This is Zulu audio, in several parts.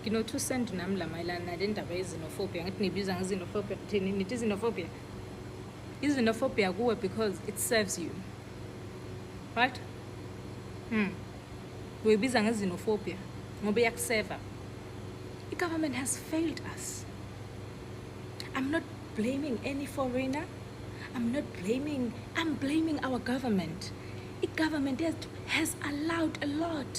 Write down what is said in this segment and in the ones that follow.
Ngino-two cent nami la mayelana nale ndaba yezinofobia ngathi nibiza ngezinofobia thini nithi izinofobia izinofobia kuwe because it serves you right mm. uyibiza ngezinofobia ngoba iyakuseva i-government has failed us i'm not blaming any foreigner i'm not blaming i'm blaming our government i-government has allowed a lot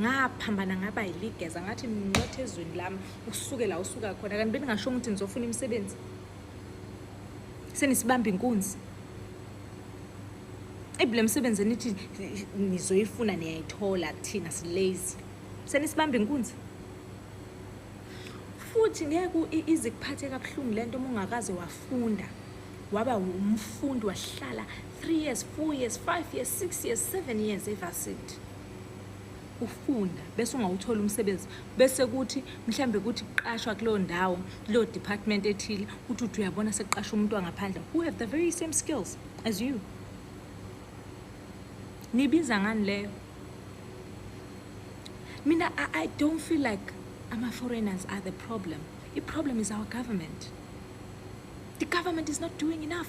ngaphambana ngaba yiligeza ngathi ngincothe ezweni lami usuke la usuka khona kanti beningasho ukuthi nizofuna imisebenzi senisibamba inkunzi ebi le misebenzi enithi nizoyifuna niyayithola kuthina silazy senisibamba inkunzi futhi ngeke ize kuphathe kabuhlungu le nto uma ungakaze wafunda waba umfundi wahlala three years four years five years six years seven years evasithi ufunda bese ungawutholi umsebenzi bese kuthi mhlambe kuthi kuqashwa kuleyo ndawo kuleyo department ethile uthi uthi uyabona sekuqasha umuntu wangaphandle who have the very same skills as you nibiza ngani leyo mina I, i don't feel like ama-foreigners are the problem i-problem is our government the government is not doing enough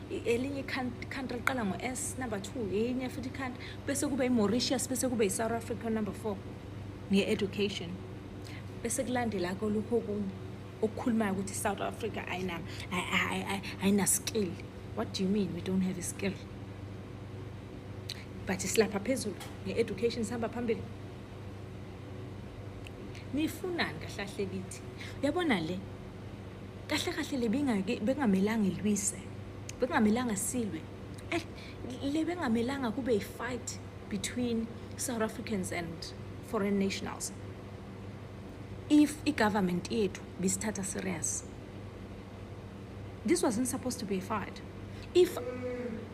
elinye country liqala ngo-s number two yenye futhi country bese kube i-mauritius bese kube i-south africa number four nge-education bese kulandela kolukho okunye okukhulumayo ukuthi i-south africa ayinaskill what do you mean we don't have a skill but silapha phezulu nge-education sihamba phambili nifunani kahlahle kithi uyabona le kahle kahle le bingake bengamelanga ilwise bengamelanga silwe eh, le bengamelanga kube i-fight between south africans and foreign nationals if i-government yethu bisithatha serious this wasn't supposed to be a fight if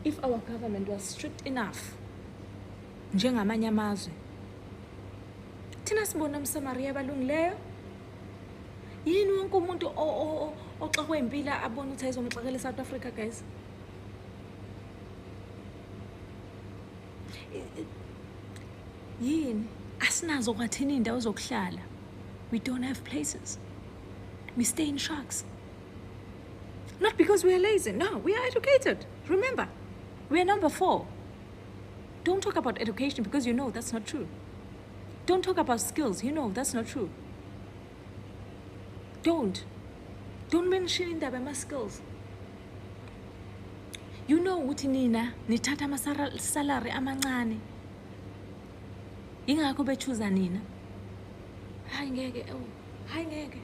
if our government was strict enough njengamanye amazwe thina sibona umsamariya abalungileyo yini wonke umuntu oxakwe impilo abone ukuthi ayizomxakela e-south africa guys yini asinazo kwathini iy'ndawo zokuhlala we don't have places we stay in sharks not because we are lazy no we are educated remember we are number four don't talk about education because you know that's not true Don't talk about skills. You know, that's not true. Don't. Don't mention in my skills. You know what ukuthi nina nithatha amasalary amancane. Ingakho bechuza nina. Hayi ngeke, oh, hayi ngeke.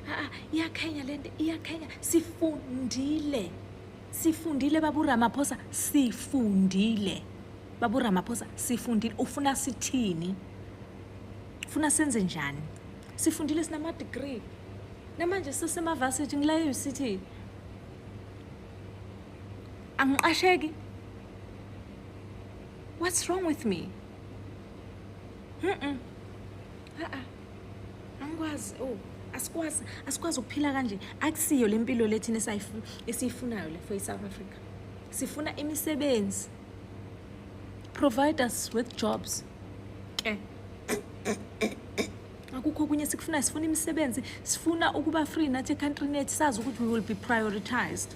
Ah, ah, iyakhenya lento, iyakhenya. Sifundile. Sifundile babu Ramaphosa, sifundile. Babu Ramaphosa, sifundile. Ufuna sithini? Ufuna senze njani? Sifundile sinama degree. Namanje sisema varsity ngila eUCT. Angiqasheki. What's wrong with me? Mm-mm. a-a angikwazi o oh, asikwazi asikwazi ukuphila kanje akusiyo le mpilo le thina esiyifunayo le for i-south africa sifuna imisebenzi provide us with jobs ke okay akukho okunye sikufunayo sifuna imisebenzi sifuna ukuba free nathi ecountry net sazi ukuthi we will be prioritized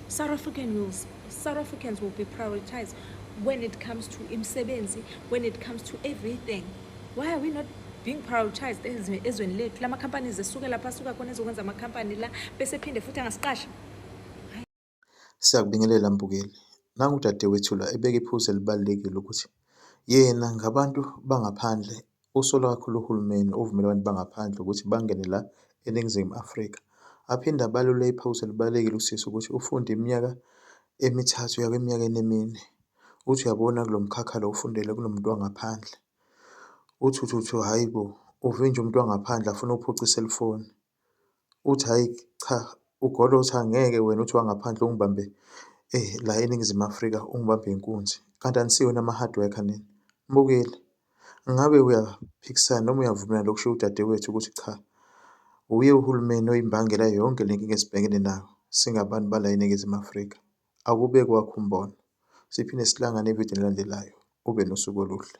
south african will, south africans will be prioritized when it comes to imisebenzi when it comes to everything why are we not being prioritized ezweni lethu la ma-companies esuke lapha asuka khona ezokwenza ama-company la bese phinde futhi angasiqashi siyakubingelela mbukeli nangu udadewethu la ebeka iphuzu elibalulekile ukuthi yena ngabantu bangaphandle usola kakhulu uhulumeni ovumela abantu bangaphandle ukuthi bangene la eningizimu afrika aphinde abalule iphuzu elibalulekile usisi ukuthi ufunde iminyaka emithathu yakweminyakeni emine Uthi uyabona kulo mkhakha lo ufundele kunomuntu wangaphandle. Uthi uthi uthi hhayi bo, uve nje umuntu wangaphandle afuna ukuphuca iselifoni. Uthi hhayi cha, uGolo uthi angeke wena uthi wangaphandle ungibambe la eNingizimu Afrika ungibambe inkunzi, kanti anisiwona ama-hard worker nina. Mbukile, ngabe uyaphikisana noma uyavumelana nokushiwo udadewethu ukuthi cha, wuye uhulumeni oyimbangela yonke le nkinga esibhekene nayo singabantu bala eNingizimu Afrika. Akube kwakho umbono. Siphinde sihlangane evidini elandelayo. Ube nosuku oluhle.